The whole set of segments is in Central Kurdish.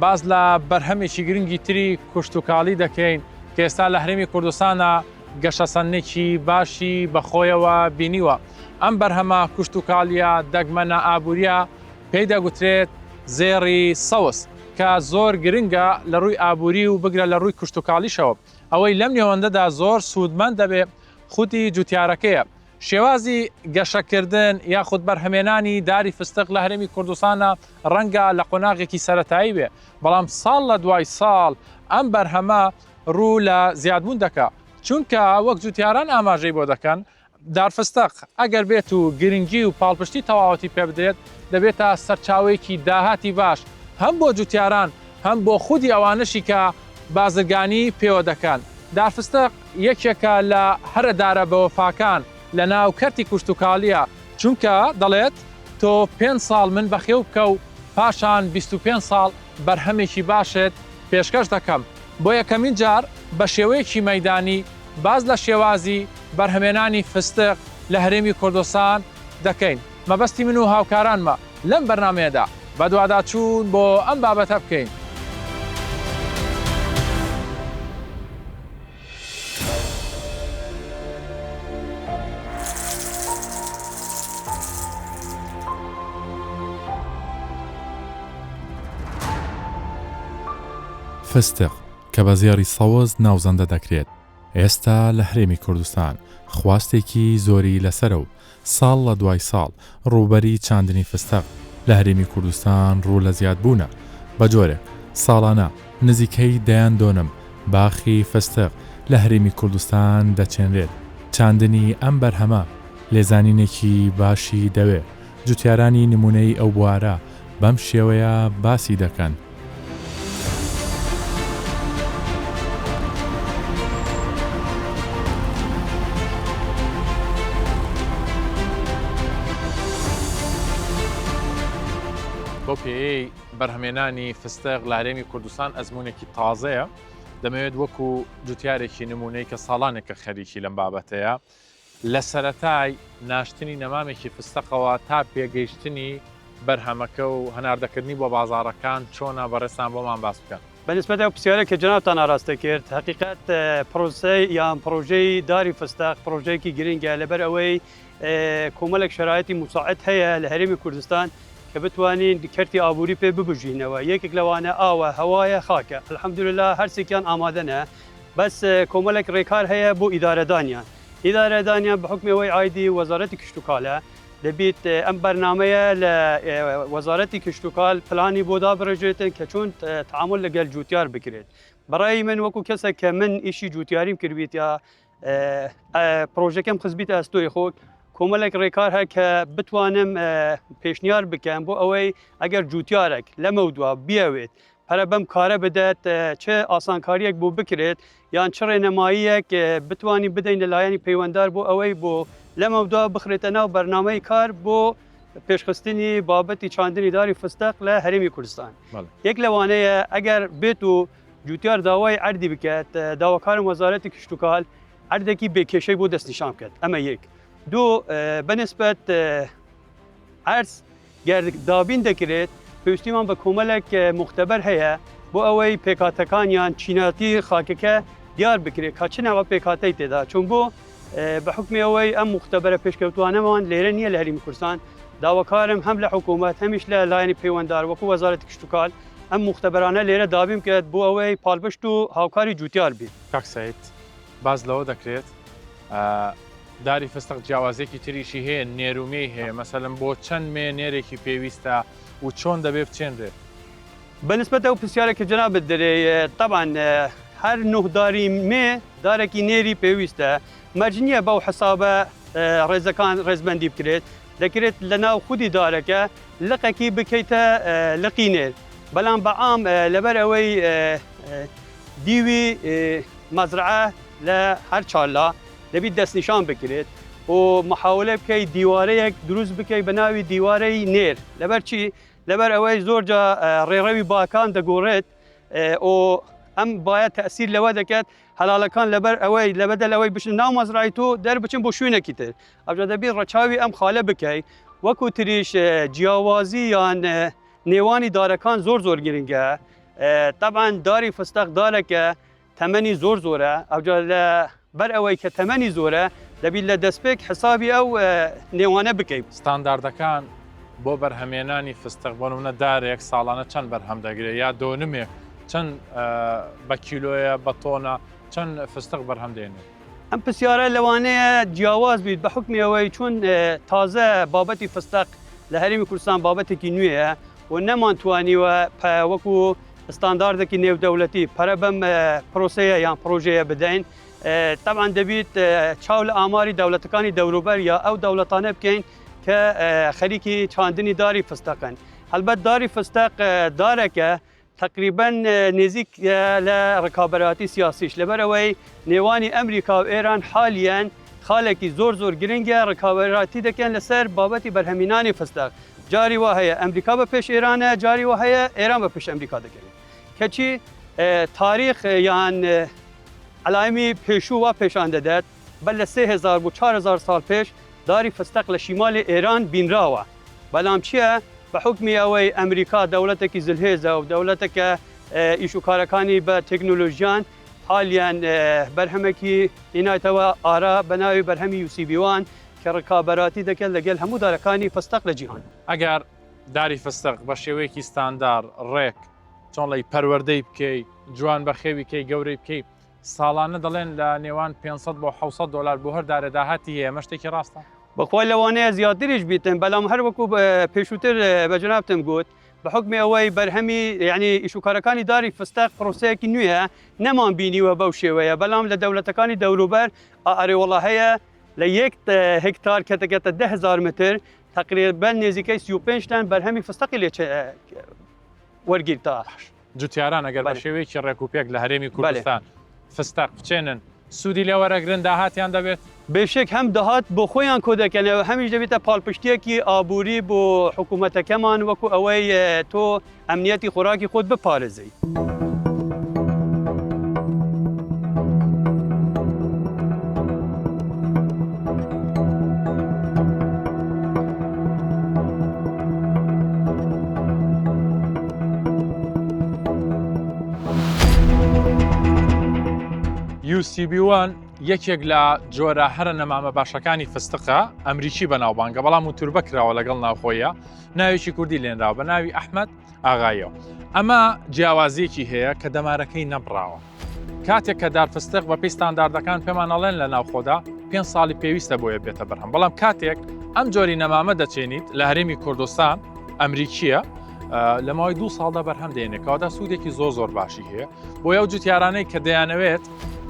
باس لە بەرهەمێکی گرنگی تری کشتوکاڵی دەکەین کە ئێستا لە هەرێمی کوردستانا گەشەسەندنێکی باشی بە خۆیەوە بینیوە. ئەم بەرهەمە کشتوکاڵییە دەگمەنە ئابوورییە پێی دەگوترێت زێڕی سەوز کە زۆر گرنگە لە رووی ئابووری و بگرە لە رووی کشتوکاڵیشەوە. ئەوەی لەم نێوەندەدا زۆر سوودمەند دەبێت خودی جوتیارەکەیە شێوازی گەشەکردن یاخود بەرهەمێنانی داری فستق لە هەرێمی کوردستانا ڕەنگە لە قۆناغێکی سەرەتایی بێ، بەڵام ساڵ لە دوای ساڵ ئەم بەرهەمە ڕوو لە زیادبوون دەکا، چونکە وەک جوتیاران ئاماژەی بۆ دەکەن، دار فستق ئەگەر بێت و گرنگی و پاڵپشتی تەواوەتی پێ بدرێت، دەبێتە سەرچاوەیەکی داهاتی باش هەم بۆ جوتیاران هەم بۆ خودی ئەوانەشی کە بازرگانی پێوە دەکەن، دار فستق. یەکێکە لە هەرە دارە بەوەفاکان لە ناو کەرتی کوشتوکاڵیە چونکە دەڵێت تۆ پێنج ساڵ من بەخێو بکە و پاشان بیست و پێنج ساڵ بەرهەمێکی باشت پێشکەش دەکەم بۆ یەکەمین جار بە شێوەیەکی مەیدانی باس لە شێوازی بەرهەمێنانی فستق لە هەرێمی کوردستان دەکەین. مەبەستی من و هاوکارانمە لەم بەرنامەیەدا بەدواداچوون بۆ ئەم بابەتە بکەین. فستق کە بە زێڕی سەوز ناوزەندە دەکرێت، ئێستا لە هەرێمی کوردستان خواستێکی زۆری لەسەرە و ساڵ لە دوای ساڵ ڕووبەری چاندنی فستەق لە هەرێمی کوردستان ڕوو لە زیادبوونە، بە جۆرێک ساڵانە نزیکەی دەیان دۆنم باخی فستق لە هەرێمی کوردستان دەچێنرێت، چاندنی ئەم بەرهەمە لێزانینێکی باشی دەوێ، جوتیارانی نموونەیی ئەو بوارە، بەم شێوەیە باسی دەکەن. بەو پێیەی بەرهەمێنانی فستق لە هەرێمی کوردستان ئەزمونێکی تازەیە، دەمەوێت وەکو جوتیارێکی نمونەی کە ساڵانێکە خەریکی لەم بابەتەیە، لە سەرەتای ناشتنی نەمامێکی فستەقەوە تا پێگەیشتنی بەرهەمەکە و هەناردەکردنی بۆ بازاڕەکان چۆنە بەڕێزتان بۆمان باس بکەن؟ بە نسبەت ئەو پرسیارەی کە جەنابتان ئاراستەی کرد، هەقیقەت پرۆسەی یان پرۆژەی داری فستەق پرۆژەیەکی گرنگە لەبەر ئەوەی کۆمەڵێک شەرایتی موساعد هەیە لە هەرێمی کوردستان کە بتوانین کەرتی ئابووری پێ ببژینەوە یەکێک لەوانە ئاوە هەوایە خاکە الحمدللە هەرسێکیان ئامادەنە بەس کۆمەڵێک ڕێکار هەیە بۆ ئیدارەدانیان، ئیدارەدانیان بە حوکمی ئەوەی عایدی وەزارەتی کشتوکاڵە دەبیت ئەم بەرنامەیە لە وەزارەتی کشتوکاڵ پلانی بۆ دابڕێژرێتن کە چۆن تەعامول لەگەل جوتیار بکرێت. بە ڕای من وەکو کەسێک کە من ئیشی جوتیاریم کردبیتە پرۆژەکەم خستبیتە ئەستۆی خۆت کۆمەلێک ڕێکار هەیە کە بتوانم پێشنیار بکەم بۆ ئەوەی ئەگەر جوتیارێک لەمەودوا بیەوێت پەرە بەم کارە بدەت، چ ئاسانکارییەک بۆ بکرێت یان چ ڕێنماییەک بتوانین بدەین لە لایەنی پەیوەندار بۆ ئەوەی بۆ لەمەودا بخرێتە ناو بەرنامەی کار بۆ پێشخستنی بابەتی چاندنی داری فستەق لە هەرێمی کوردستان یەک لەوانەیە ئەگەر بێت و جوتیار داوای ئەردی بکات داواکارم وەزارەتی کشتتوکال ئەردێکی بێکێشەی بۆ دەستنیشان بکات ئەمە یەک دوو بەنسبەت ئەرز گەر دابین دەکرێت، پێویستیمان بە کۆمەلێک موختەبەر هەیە بۆ ئەوەی پێکهاتەکان یان چینایەتی خاکەکە دیار بکرێت کە چ نەوە پێکهاتەی تێدا چون بۆ بە حوکمی ئەوەی ئەم موختەبەرە پێشکەوتوانەمان لێرە نییە لە هەرێمی کوردستان داواکارم هەم لە حکومەت هەمیش لە لایەنی پەیوەندار وەکو وەزارەتی کشتوکال ئەم موختەبەرانە لێرە دابین بکرێت بۆ ئەوەی پاڵپشت و هاوکاری جوتیار بین. کاک سەید باس لەوە دەکرێت، داری فستق جیاوازیەکی تریشی هەیە نێر و مێی هەیە مەسەلەن بۆ چەند مێ نێرێکی پێویستە و چۆن دەبێ بچێنرێت؟ بە نسبەت ئەو پرسیارە کە جەنابت دەرێ تەبان هەر نۆ داری مێ دارێکی نێری پێویستە مەرج نییە بەو حسابە ڕێزەکان ڕێزبەندی بکرێت دەکرێت لە ناو خودی دارەکە لقەکی بکەیتە لقی نێر بەڵام بەعام لەبەر ئەوەی دیوی مەزرعە لە هەر چارلا دەبیت دەستنیشان بکریت و محاولە بکەیت دیوارەیەک دروست بکەیت بە ناوی دیوارەی نێر لەبەر چی لەبەر ئەوەی زۆر جا ڕێڕەوی باکان دەگۆڕێت و ئەم باە تەسیر لەوە دەکات هەلاڵەکان لەبەر ئەوەی لە بەدەل ئەوەی بچن ناو مەزرای تۆ دەربچن بۆ شوێنێکی تر ئەوجا دەبی ڕەچاوی ئەم خالە بکەیت وەکو تریش جیاوازی یان نێوانی دارەکان زۆر زۆر گرنگە تەبان داری فستەق دارەکە تەمەنی زۆر زۆرە ئەوجا لە بەر ئەوەی کە تەمەنی زۆرە دەبیت لە دەستپێک حسابی ئەو نێوانە بکەیت. ستانداردەکان بۆ بەرهەمێنانی فستق بۆ نمونە دارێک ساڵانە چەند بەرهەم دەگرێت یا دۆنمێک چەند بە کیلۆیە بە تۆنە چەند فستق بەرهەم دێنێت. ئەم پرسیارە لەوانەیە جیاواز بیت بە حکمی ئەوەی چون تازە بابەتی فستق لە هەرێمی کوردستان بابەتێکی نوێیە و نەمانتوانیوە وەکو ستانداردێکی نێودەولەتی پەرە بەم پرۆسەیە یان پرۆژەیە بدەین تەبان دەبیت چاو لە ئاماری دەولەتەکانی دەوروبەر یا ئەو دەوڵەتانە بکەین کە خەریکی چاندنی داری فستەکەن هەلبەت داری فستەق دارەکە تقریبن نێزیک لە ڕکابەتی سیاسیش لەبەرەوەی نێوانی ئەمریکا و ئێران حالیان خالێکی زۆر زۆر گرنگە ڕکاوەراتی دەکەن لەسەر بابەتی بەرهەمینانی فستەق جاری وا هەیە ئەمریکا بە پێش ئێرانە جاری وا هەیە ئێران بە پێش ئەمریکا دەگەرێت کەچی تاریخ یان عەلایمی پێشوو وا پێشان دەدات بە لە سێ هزار بۆ چهار هزار ساڵ پێش داری فستەق لە شیمالی ئێران بینراوە بەلام چییە بە حکمی ئەوەی ئەمریکا دەوڵەتێکی زلهێزە و دەوڵەتەکە ئیش و کارەکانی بە تەکنۆلۆژیان حالیان بەرهەمەکی ئینایتەوە ئارا بە ناوی بەرهەمی یوسیبیوان کە ڕکابەراتی دەکەن لەگەل هەموو دارەکانی فستەق لە جیهان. ئەگەر داری فستەق بە شێوەیەکی ستاندار، ڕێک، چۆن ڵێی، پەروەردەی بکەی، جوان بەخێوی کەی، گەورەی بکەی، ساڵانە دەڵێن لە نێوان پێنج سەد بۆ حەوت سەد دۆلار بۆ هەر دارێ داهاتی هەیە، ئەمە شتێکی ڕاستە؟ بەخوای لەوانەیە زیاتریش بیتن، بەلام هەر وەکو پێشووتر بە جەنابتم گوت، بە حوکمی ئەوەی بەرهەمی یەعنی ئیش و کارەکانی داری فستەق پرۆسەیەکی نوێیە، نەمان بینیوە بەو شێوەیە، بەلام لە دەولەتەکانی دەوروبەر ئا ئەرێوەڵا هەیە، لە یەک هکتار کە دەگەتە دە هزار متر تقریبا نێزیکەی سی و پێنج تان بەرهەمی فستەقی لێ وەرگیرتا. جوتیاران ئەگەر بە شێوەیەکی ڕێک و پێک لە هەرێمی کوردستان فستەق بچێنن سوودی لێ وەرەگرن داهاتیان دەبێت بێشێک هەم دەهات بۆ خۆیان کۆ دەکەنەوە هەمیش دەبێتە پاڵپشتێکی ئابووری بۆ حکوومەتەکەمان وەکو ئەوەی تۆ ئەمنیەتی خۆراکی خۆت بپارێزیت. یوسیبیوان یەکێک لە جۆرە هەرە نەمامە باشەکانی فستقە ئەمریکی بەناوبانگە بەڵام و توربە کراوە لەگەڵ ناوخۆیە ناوێکی کوردی لێنراوە بە ناوی ئەحمد ئاغایەوە ئەمە جیاوازیەکی هەیە کە دەمارەکەی نەبراوە کاتێک کە دارفستق بە پێی ستانداردەکان پێمانەڵێن لە ناوخۆدا پێ ساڵی پێویستە بۆیە بێتە بەرهەم بەڵام کاتێک ئەم جۆری نەمامە دەچێنیت لە هەرێمی کوردستان ئەمریکیە لە ماوەی دوو ساڵدا بەرهەم دێنێکەوەدا سوودێکی زۆر زۆر باشی هەیە بۆ یو جوتیارانەی کە دەیانەوێت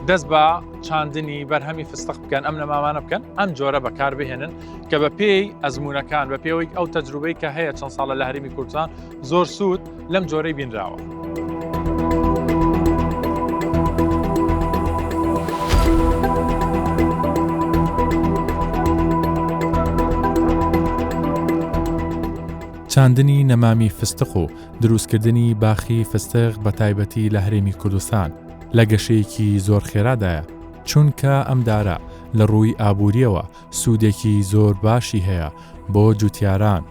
دەست بە چاندنی بەرهەمی فستق بکەن ئەم نەمامانە بکەن ئەم جۆرە بەکار بهێنن کە بە پێی ئەزمونونەکان بە پێوەی ئەو تەجروبەی کە هەیە چەند ساڵە لە هەرمی کوردستان زۆر سوود لەم جۆرەی بینراوە. چاندنی نەمامی فستق و دروستکردنی باخی فستق بە تایبەتی لە هەرێمی کوردستان لە گەشەیەکی زۆر خێرادایە، چونکە ئەم دارە لە ڕووی ئابوورییەوە سوودێکی زۆر باشی هەیە بۆ جوتیاران.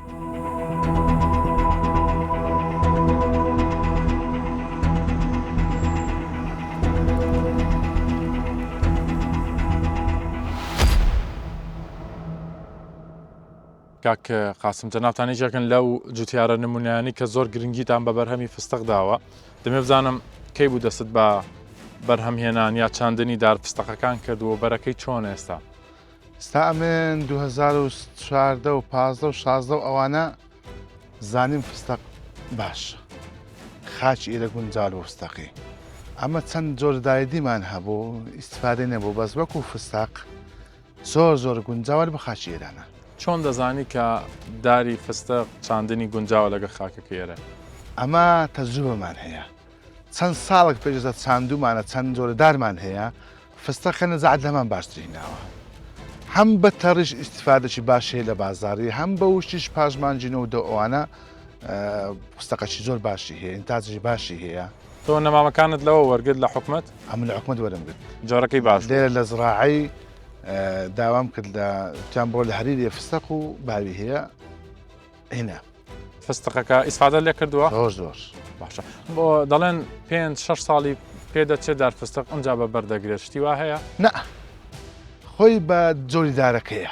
کاک قاسم جەنابتان یەکێکن لەو جوتیارە نمونیانی کە زۆر گرنگیتان بە بەرهەمی فستق داوە دەمێ بزانم کەی بوو دەست بە بەرهەم هێنان یا چاندنی دار فستەقەکان کردووە بەرەکەی چۆن ئێستا ستا ئەمێن 2014 و 15 و 16 و ئەوانە زانیم فستق باشە خاچ ئیرە گونجار بۆ فستەقی ئەمە چەند جۆردایدیمان هەبوو ئیسفادە نەبوو بەس وەکو فستق زۆر زۆر گونجاوە لەبەر خاکی ئێرانە. چۆن دەزانی کە داری فستق چاندنی گونجاوە لەگەر خاکەکەی ئێرە؟ ئەمە تەجروبەمان هەیە چەند ساڵێک پێش ئێستا چاندومانە چەند جۆرە دارمان هەیە فستەقە نەزەعەت لەمان باشتری هیناوە هەم بە تەڕیش ئیستیفادەی باشی هەیە لە بازاڕی هەم بە وشتیش پاشمانجی نۆ و دە ئەوانە پوستەقەشی زۆر باشی هەیە ئینتاجی باشی هەیە تۆ نەمامەکانت لەوە وەرگرت لە حکومت ئەم لە حکومت وەرمگرت جارەکەی باش لێرە لە زراعی داوام کرد لە تیان بۆ لە هەریری فستەق و باوی هەیە هنا فستەقەکە ئیسفادە لێ کردووە زۆر زۆر باشە بۆ دەڵێن پێ شش ساڵی پێدەچێ دار فستق ئەمجا بە بەردەگرێت شتی وا هەیە نە خۆی بە جۆری دارەکەیە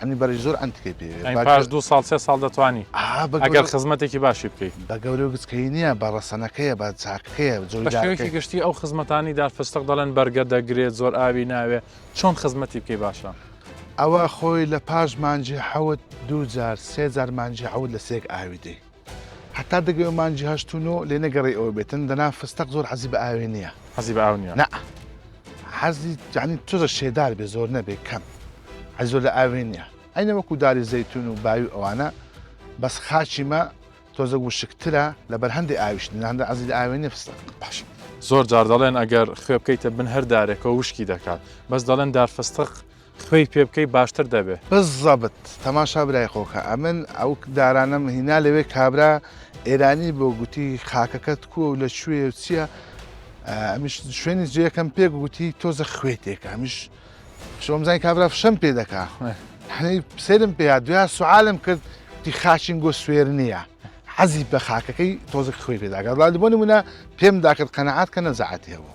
ئەمنی بەرەی زۆر ئەنتکەی پێوێ ئەی پاش دوو ساڵ سێ ساڵ دەتوانی ئا بە گەورە ئەگەر خزمەتێکی باشی بکەی. بە گەورە و گچکەیی نییە، بە ڕەسەنەکەیە، بە چاکەکەیە، بە بە شێوەیەکی جۆیدارەکەی. گشتی ئەو خزمەتانەی دار فستق دەڵێن بەرگە دەگرێت، زۆر ئاوی ناوێ، چۆن خزمەتی بکەی باشە؟ ئەوە خۆی لە پاش مانگی حەوت دوو جار، سێ جار مانگی حەوت لە سێک ئاوی دەی. هەتا دەگەوێ مانگی هەشت و نۆ لێ نەگەڕێی ئەوە بێتن دەنا فستەق زۆر حەزی بە ئاوێ نییە حەزی بە ئاو نییە نا حەزی یعنی تۆزە شێدار بێ زۆر نەبێ کەم حەزی زۆر لە ئاوێ نییە ئەینە وەکو داری زەیتون و باوی ئەوانە بەس خاچی مە تۆزە وشکترە لە بەرهەندی ئاویش ناندە عەزی لە ئاوێ نیە فستەق باش زۆر جار دەڵێن ئەگەر خوێ بکەیتە بن هەر دارێکەوە وشکی دەکات بەس دەڵێن دار فستەق خوێی پێ بکەی باشتر دەبێ. بزەبت تەماشا برای خۆکە ئەمن ئەو دارانەم هینا لەوێ کابرا ئێرانی بۆ گوتی خاکەکەت کووە و لە کوێ و چییە ئەمیش شوێنی جێکەم پێ گوتی تۆزە خوێ تێکە ئەمیش شۆمزای کابرا فشەم پێ دەکا حەی سێرم پێ دویا سوعاالم کرد دی خاچین گۆ سوێر نییە حەزی بە خاکەکەی تۆزە خوێ پێداگات بۆ نمونە پێم داکرد قەنەعات کە نەزعاتی هەبوو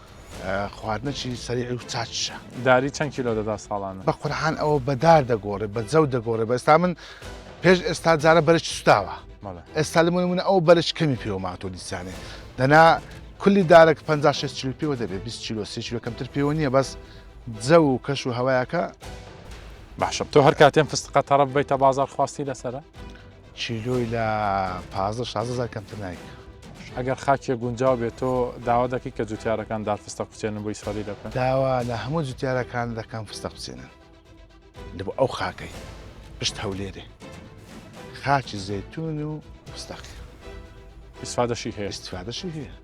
خواردنەکی سەریعی و چاچشە. داری چەند کیلۆ دەدا ساڵانە؟ بە قورحان ئەوە بە دار دەگۆڕێ بە جەو دەگۆڕێ بە ئێستا من پێش ئێستا جارە بەرەکی سوتاوە ئێستا لە منمونە ئەو بەرەش کەمی پێوە ماتۆ دیسانێ دەنا کلی دارێک 5 6 چلو پێوە دەبێت 20 چیلۆ سی چلو کەمتر پێوە نییە بەس جە و کەش و هەوایەکە باشە تۆ هەر کاتێن فستقە تەڕەف بیتە بازار خواستی لەسرە؟ چیلۆی لە پازدە شازدە هەزار کەمتر نایکا. ئەگەر خاکێک گونجاو بێت تۆ داوا دەکەی کە جوتیارەکان دار فستەق بچێنن بۆ ئیسرائیل دەکەن؟ داوا لە هەموو جوتیارەکان دەکەم فستەق بچێنن لە بۆ ئەو خاکەی پشت هەولێرێ خاچی زەتون و فستەقی ئیسفادەشی هەیە ئیسفادەشی هەیە.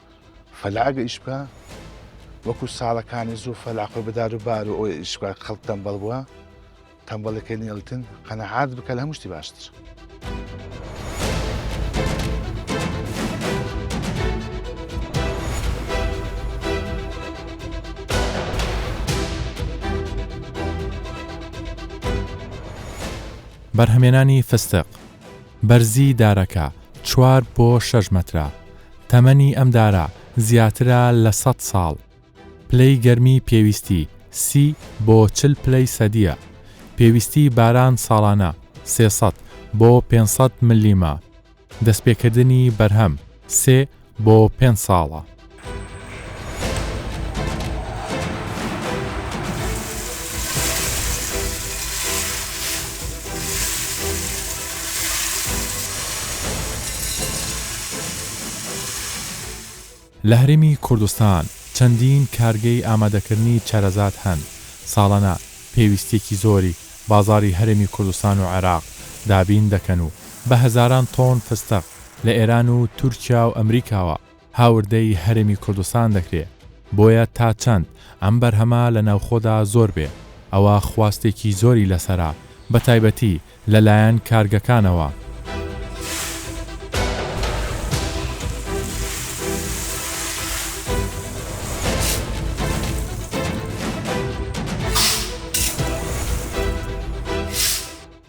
فەلا ئەگە ئیش بکا وەکو ساڵەکانی زوو فەلا خۆی بەدار و بار و ئەوی ئیش بکا خەڵک تەمبەڵ بووە تەمبەڵەکەی نیڵتن قەنەعات بکە لە هەموو شتی باشتر. بەرهەمێنانی فستق بەرزی دارەکە چوار بۆ شەش مەترە، تەمەنی ئەم دارە زیاترە لە سەد ساڵ. پلەی گەرمی پێویستی سی بۆ چل پلەی سەدییە. پێویستی باران ساڵانە سێ سەد بۆ پێنج سەد مللیمە. دەستپێکردنی بەرهەم سێ بۆ پێنج ساڵە. لە هەرێمی کوردستان چەندین کارگەی ئامادەکردنی چەرەزات هەن، ساڵانە پێویستیەکی زۆری بازاڕی هەرێمی کوردستان و عێراق دابین دەکەن و بە هەزاران تۆن فستەق لە ئێران و تورکیا و ئەمریکاوە هاوردەی هەرێمی کوردستان دەکرێ، بۆیە تا چەند ئەم بەرهەمە لە ناوخۆدا زۆر بێ، ئەوا خواستێکی زۆری لەسەرە، بە تایبەتی لە لایەن کارگەکانەوە.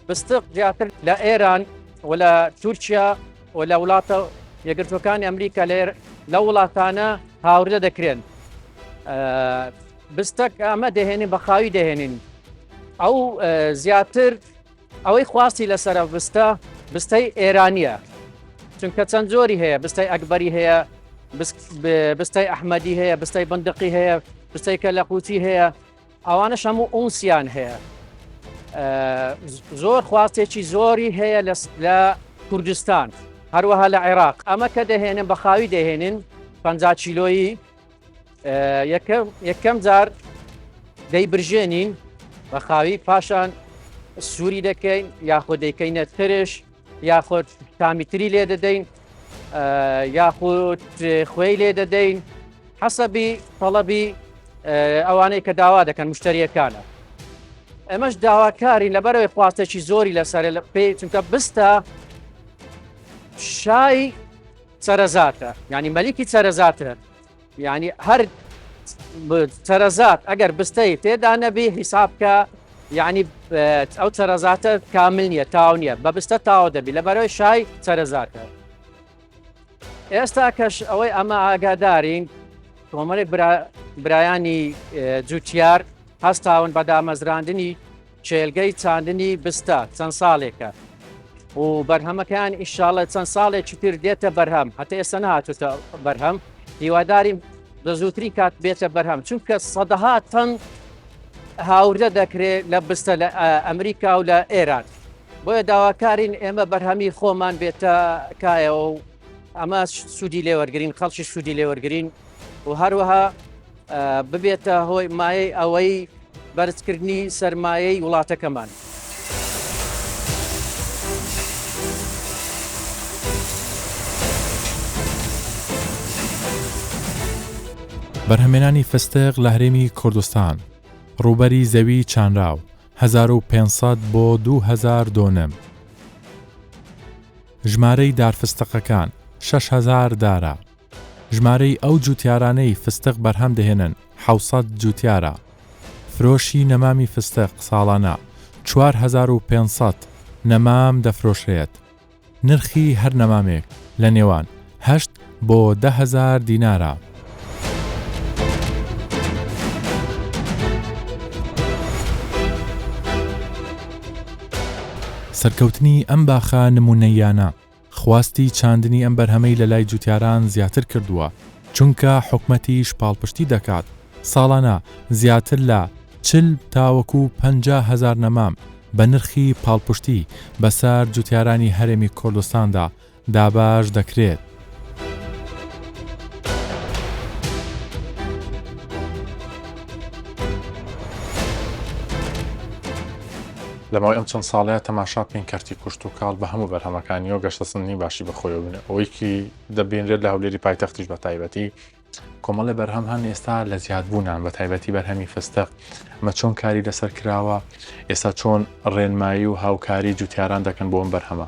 فستق زیاتر لە ئێران و لە تورکیا. و لە وڵاتە یەکگرتووەکانی ئەمریکا لە لە وڵاتانە هاوردە دەکرێن بستەک ئەمە دەهێنین بە خاوی دەهێنین ئەو زیاتر ئەوەی خواستی لەسرە بستە بستەی ئێرانیە چونکە چەند زۆری هەیە بستای ئەکبەری هەیە بستای ئەحمەدی هەیە بستای بندقی هەیە بستای کە لە قوچی هەیە ئەوانەش هەموو ئونسیان هەیە زۆر خواستێکی زۆری هەیە لە کوردستان هەروەها لە عێراق ئەمە کە دەهێنن بە خاوی دەهێنن پ چیلۆیی یەکەم جار دەی برژێنین بە خاوی پاشان سووری دەکەین یاخۆ دەیکەینە ترش یاخود تامی تری لێ دەدەین یاخود خوێی لێ دەدەین حەسەبی تەڵەبی ئەوانەی کە داوا دەکەن مشتریەکانە ئەمەش داواکاری لەبەرەوەی خواستێکی زۆری لەسەر لە پێی چونکە بستە شای سەرەزاتە ینی مەلیکی سەرەزاتە یانی هەر چەرەزات ئەگەر بستەی تێدا نەبی حیساب کە یعنی ئەو چەرەزاتە کامل نییە تاو نییە بە بستە تاوە دەبی لە بەرەوەی شای چەرەزاتە ئێستا کەش ئەوەی ئەمە ئاگادارین کۆمەڵی برایانی جوتیار هەستاون بە دامەزراندنی کێلگەی چاندنی بستە چەند ساڵێکە و بەرهەمەکەیان ئیشاڵە چەند ساڵێکی تر دێتە بەرهەم هەتا ئێستا نهاتوتە بەرهەم هیواداریم لە زووترین کات بێتە بەرهەم چونکە سەدەها تەن هاوردە دەکرێت لە بستە لە ئەمریکا و لە ئێران بۆیە داواکارین ئێمە بەرهەمی خۆمان بێتە کایەوە و ئەمە سوودی لێوەرگین خەڵکی سوودی لێوەرگین و هەروەها ببێتە هۆی مایەی ئەوەی بەرزکردنی سەرمایەی وڵاتەکەمان. بەرهەمێنانی فستق لە هەرێمی کوردستان ڕووبەری زەوی چانراو 1500 بۆ 2000 دۆنم ژمارەی دارفستەقەکان 6هزار دارە ژمارەی ئەو جووتیارانەی فستق بەرهەم دەهێنن حەوت سەد جووتیارە. فرۆشی نەمامی فستق ساڵانە چوار هەزار و پێنج سەد نەمام دەفرۆشرێت. نرخی هەر نەمامێک لە نێوان هەشت بۆ دە هەزار دینارە. سەرکەوتنی ئەم باخە نموونەییانە. خواستی چاندنی ئەم بەرهەمەی لەلای جوتیاران زیاتر کردووە، چونکە حکومەتیش پاڵپشتی دەکات، ساڵانە زیاتر لە چل تاوەکو پەنجا هەزار نەمام بە نرخی پاڵپشتی بەسەر جوتیارانی هەرێمی کوردستاندا دابەش دەکرێت. لە ماوەی ئەم چەند ساڵەیە تەماشا بکەین کەرتی کوشت و کاڵ بە هەموو بەرهەمەکانیەوە گەشتە سندنی باشی بەخۆیەوە بنێ ئەوەیکی دەبینرێت لە هەولێری پایتەختیش بە تایبەتی کۆمەڵی بەرهەم هەن ئێستا لە زیادبوونان بە تایبەتی بەرهەمی فستە مە چۆن کاری لەسەر کراوە ئێستا چۆن ڕێنمایی و هاوکاری جوتیاران دەکەن بۆم بەرهەمە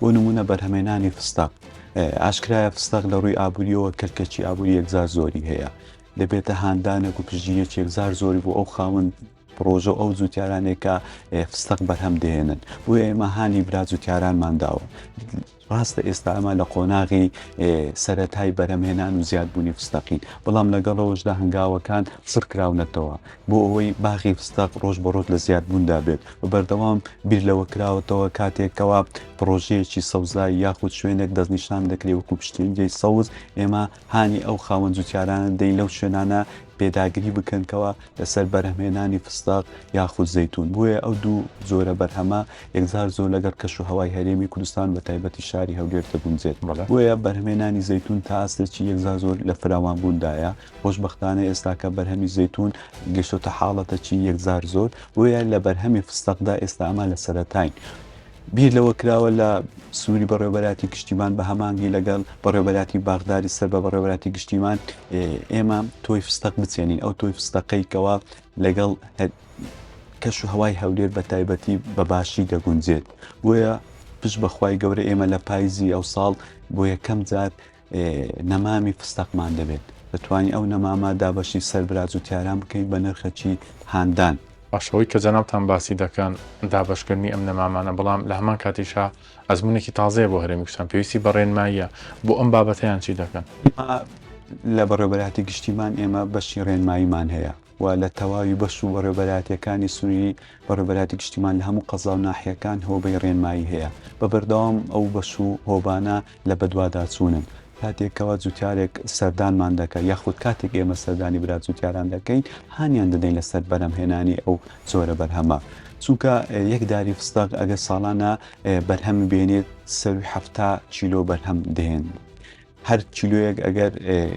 بۆ نموونە بەرهەمێنانی فستەق ئاشکرایە فستەق لە ڕووی ئابووریەوە کەرکەچی ئابووری یەکزار زۆری هەیە دەبێتە هاندانێک و پژیە چێکزار زۆری بۆ ئەو خاون پرۆژە ئەو جووتارانێکە فستەق بەرهەم دێنن بۆ ئێمە هانی برا جووتارانمان داوە ڕاستە ئێستا ئەمە لە قۆناغی سەتای بەرەمهێنان و زیادبوونی فستەقین بەڵام لەگەڵەوەشدا هەنگاوەکان سڕکراونەتەوە بۆ ئەوەی باخی فستەق ڕۆژ بە ڕۆژ لە زیادبووندا بێت و بەردەوام بیر لەوە کراوەتەوە کاتێک کەوا پڕۆژەیەکی سەوزایی یاخود شوێنێک دەستنیشان دەکرێت وەکو پشتین جێی سەوز ئێمە هانی ئەو خاوەن جوتیارانە دەین لەو شوێنانە پێداگری بکەن کەوا لەسەر بەرهەمهێنانی فستەق یاخود زەیتون بۆیە ئەو دوو جۆرە بەرهەمە یەکجار زۆر لەگەڵ کەش و هەوای هەرێمی کوردستان بە تایبەتی شاری هەولێر دەگونجێت بۆیە بەرهەمێنانی زەیتون تا ئاستێکی یەکجار زۆر لە فراوانبووندایە. خۆشبەختانە ئێستاکە بەرهەمی زەیتون گەشتۆتە حاڵەتە چی یەکجار زۆر بۆیە لە بەرهەمی فستەقدا ئێستا ئەمە لە سەرەتاین. بیر لەوە کراوە لە سنووری بەڕێوبەراتی گشتیمان بە هەمانگی لەگەڵ بەڕێوبەراتی باغداری سەر بە بەڕێوبەراتی گشتیمان ئێمە تۆی فستەق بچێنین ئەو تۆی فستەقەی کەوا لەگەڵ کەش و هەوای هەولێر بە تایبەتی بە باشی دەگونجێت بۆیە پش بەخوای گەورە ئێمە لە پایزی ئەو ساڵ بۆ یەکەم جار نەمامی فستەقمان دەبێت دەتوانین ئەو نەمامە دابەشی سەر برا جوتیاران بکەین بە نرخەکی هاندان. باش ئەوەی کە جەنابتان باسی دەکەن دابەشکردنی ئەم نەمامانە بەڵام لە هەمان کاتیشا ئەزمونێکی تازەیە بۆ هەرێمی کوردستان پێویستی بە ڕێنماییە بۆ ئەم بابەتە یان چی دەکەن؟ ئێمە لە بەڕێوەبەرایەتی گشتیمان ئێمە بەشی ڕێنماییمان هەیە. و لە تەواوی بەش و بەڕێوەبەرایەتییەکانی سنووری بەڕێوەبەرایەتی گشتیمان لە هەموو قەزا و ناحیەکان هۆبەی ڕێنمایی هەیە بە بەردەوام ئەو بەش و هۆبانە لە بەدواداچوونن کاتێک کەوا جوتیارێک سەردانمان دەکات یاخود کاتێک ئێمە سەردانی برا جوتیاران دەکەین هانیان دەدەین لەسەر بەرهەمهێنانی ئەو جۆرە بەرهەمە چونکە یەک داری فستەق ئەگەر ساڵانە بەرهەم بێنێت سەرووی حەفتا کیلۆ بەرهەم دێن. هەر کیلۆیەک ئەگەر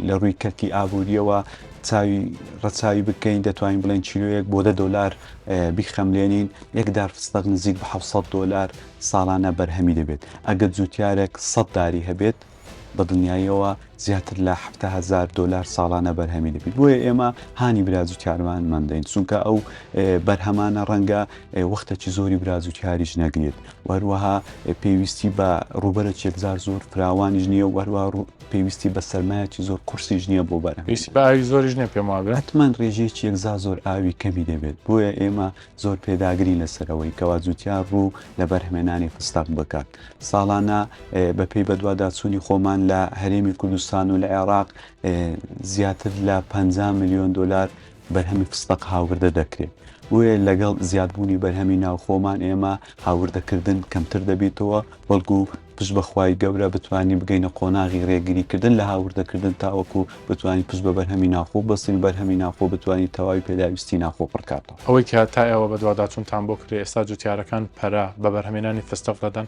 لە ڕووی کەرتی ئابووریەوە چاوی ڕەچاوی بکەین دەتوانین بڵێن کیلوەیەک بۆ دە دلار بیخەملێنین یەکدار فستەق نزیک بە 600 دلار ساڵانە بەرهەمی دەبێت ئەگەر جوتیارێک سەد داری هەبێت بە دڵنیاییەوە زیاتر لە هزار دلار ساڵانە بەرهەمی دەبیت بۆیە ئێمە هانی براجوتیارمان مندین چونکە ئەو بەرهەمانە ڕەنگە وەختەکی زۆری براجوتیاریش نەگرێت و هەروەها پێویستی بە ڕووبەرە چێکزار زۆر فراوانیش نییە و هەروە پێویستی بە سەرمایەکی زۆر قورسیش نییە بۆ بەرە پێویستی بە ئاوی زۆریش نیە پێم وابێ ئەتمەن ڕێژەی چێکزا زۆر ئاوی کەمی دەبێت بۆیە ئێمە زۆر پێداگری لەسەرەوەی کەوا جوتیار ڕوو لە بەرهمێنانی فستەق بکات ساڵانە بەپێی بەدواداچوونی خۆمان لە هەرێمی کوردستان و لە عێراق زیاتر لە پ ملیۆن دلار بەرهەمی فستەق هاوردە دەکرێت، بۆیە لەگەڵ زیادبوونی بەرهەمی ناوخۆمان ئێمە هاوردەکردن کەمتر دەبیتەوە، بەڵکو پشت بە خوای گەورە بتوانین بگەینە قۆناغی رێگریکردن لە هاوردەکردن تاوەکو بتوانین پشت بە بەرهەمی ناوخۆ ببەستین و بەرهەمی ناوخۆ بتوانین تەواوی پێداویستی ناوخۆ پڕکاتەوە. ئەوەی کە تا ئێوە بەدواداچوونتان بۆ کردی، ئێستا جوتیارەکان پەرە بە بەرهەمێنانی فستەق دەدەن؟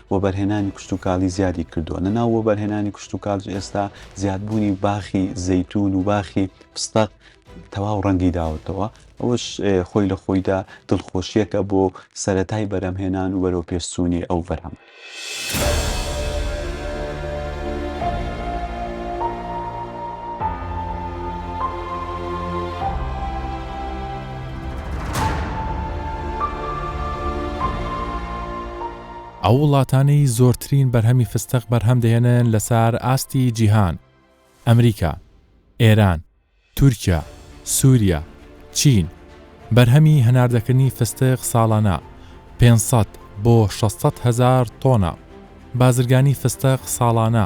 وەبەرهێنانی کشتوکاڵی زیادی کردووە، لە ناو وەبەرهێنانی کشتوکاڵیش ئێستا زیادبوونی باخی زەیتوون و باخی فستەق تەواو ڕەنگی داوەتەوە، ئەوەش خۆی لە خۆیدا دڵخۆشییەکە بۆ سەرەتای بەرهەمهێنان و بەرەوپێشچوونی ئەو بەرهەمە. ئەو وڵاتانەی زۆرترین بەرهەمی فستق بەرهەم دەهێنن لەسار ئاستی جیهان، ئەمریکا، ئێران، تورکیا، سوریا، چین، بەرهەمی هەناردەکردنی فستق ساڵانە پێنج سەد بۆ شەش سەد هەزار تۆنە، بازرگانی فستق ساڵانە.